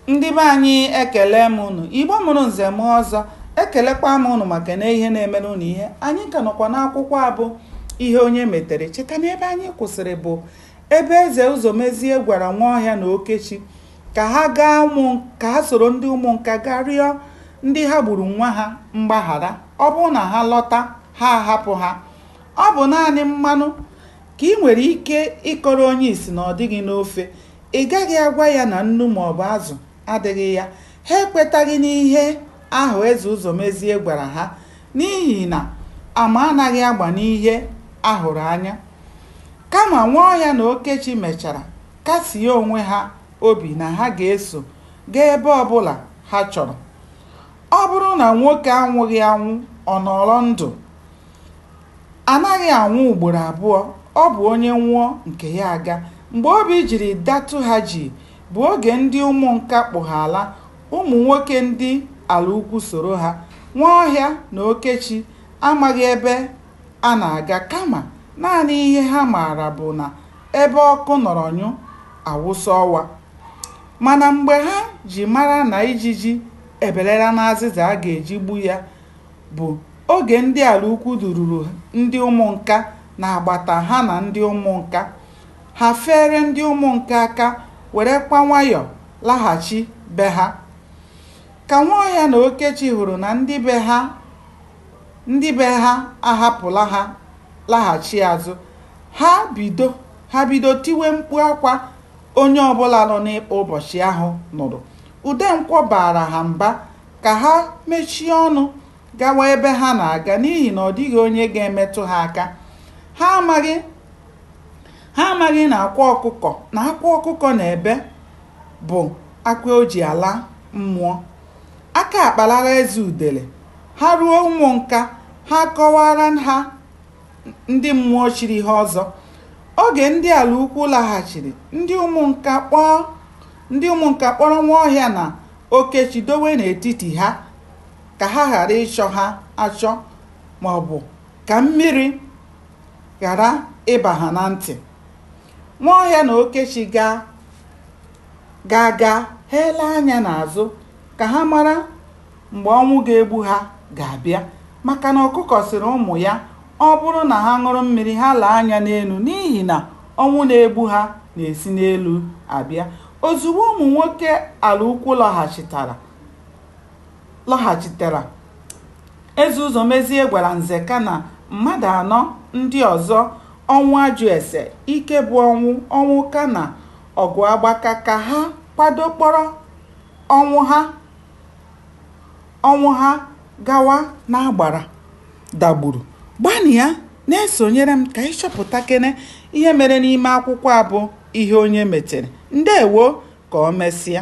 Ndị be anyị ekele m unu. Igbo mụrụ nze mụọ ọzọ. Ekelekwa m unu maka na ihe na-emere unu ihe. Anyị ka nọkwa n'akwụkwọ a bụ ihe onye metere. Cheta na ebe anyị kwụsịrị bụ ebe eze Ụzọmezie gwara Nwaọhịa na Okechi ka ha soro ndị ụmụnka gaa rịọ ndị ha gburu nwa ha mgbaghara ọ bụrụ na ha lọta ha ahapụ ha ọ bụ naanị mmanụ ka ị nwere ike ịkọrọ onye isi na ọ dịghị n'ofe Ị gaghị agwa ya na nnu maọbụ azụ adịghị ya. Ha ekwetaghị n'ihe ahụ Eze Ụzọmezie gwara ha n'ihi na ama anaghị agba n'ihe a hụrụ anya. Kama Nwaọhịa na Okechi mechara kasie onwe ha obi na ha ga-eso gaa ebe ọbụla ha chọrọ. Ọ bụrụ na nwoke anwụghị anwụ, ọ nọọrọ ndụ. A naghị anwụ ugboro abụọ, ọ bụ onye nwụọ, nke ya aga. Mgbe obi jiri datụ ha jii bụ oge ndị ụmụnka kpụ ha ala, ụmụ nwoke ndị ala ukwu soro ha. Nwaọhịa na Okechi amaghị ebe a na-aga kama naanị ihe ha maara bụ na ebe ọkụ nọrọ nyụ, a wụsa ọwa. Mana mgbe ha ji mara na ijiji ebelela n'azịza a ga-eji gbu ya, bụ oge ndị ala ukwu dururu ndị ụmụnka n'agbata ha na ndị ụmụnka. Ha feere ndị ụmụnka aka werekwa nwayọ laghachi be ha. Ka Nwaọhịa na Okechi hụrụ na ndị be ha ahapụla ha laghachi azụ, ha bido tiwe mkpu akwa onye ọbụla nọ n'ikpa ụbọchị ahụ nụrụ. Udenkwọ baara ha mba ka ha mechie ọnụ gawa ebe ha na-aga n'ihi na ọ dịghị onye ga-emetụ ha aka ha amaghị na akwa ọkụkọ na akwa ọkụkọ na-ebe bụ akwa o ji ala mmụọ aka akpalara eze udele ha ruo ụmụnka ha kọwara ha ndị mmụọ chiri ha ọzọ oge ndị ala ukwu laghachiri ndị ụmụnka kpọrọ Nwaọhịa na Okechi dowe n'etiti ha, ka ha ghara ịchọ ha achọ ma ọ bụ ka mmiri ghara ịba ha na ntị. Nwaọhịa na Okechi gaa gaa, ha ele anya n'azụ ka ha mara mgbe ọnwụ ga-egbu ha ga-abịa maka na ọkụkọ sịrị ụmụ ya ọ bụrụ na ha ṅụrụ mmiri ha lee anya n'elu n'ihi na Ọnwụ na-egbu ha na-esi n'elu abịa. Ozugbo ụmụ nwoke Alaukwu lọghachitara, Eze Ụzọmezie gwara Nzeka na mmadụ anọ ndị ọzọ Ọnwụajụese, Ikebụọnwụ, Ọnwụka na Ọgụagbaka ka ha kwado kpọrọ Ọnwụha. Ọnwụha gawa n'agbara Dagburu. Gbanịa na-esonyere m ka anyị chọpụtakene ihe mere n'ime akwụkwọ a bụ Ihe Onye Metere. Ndewo! Ka o mesịa.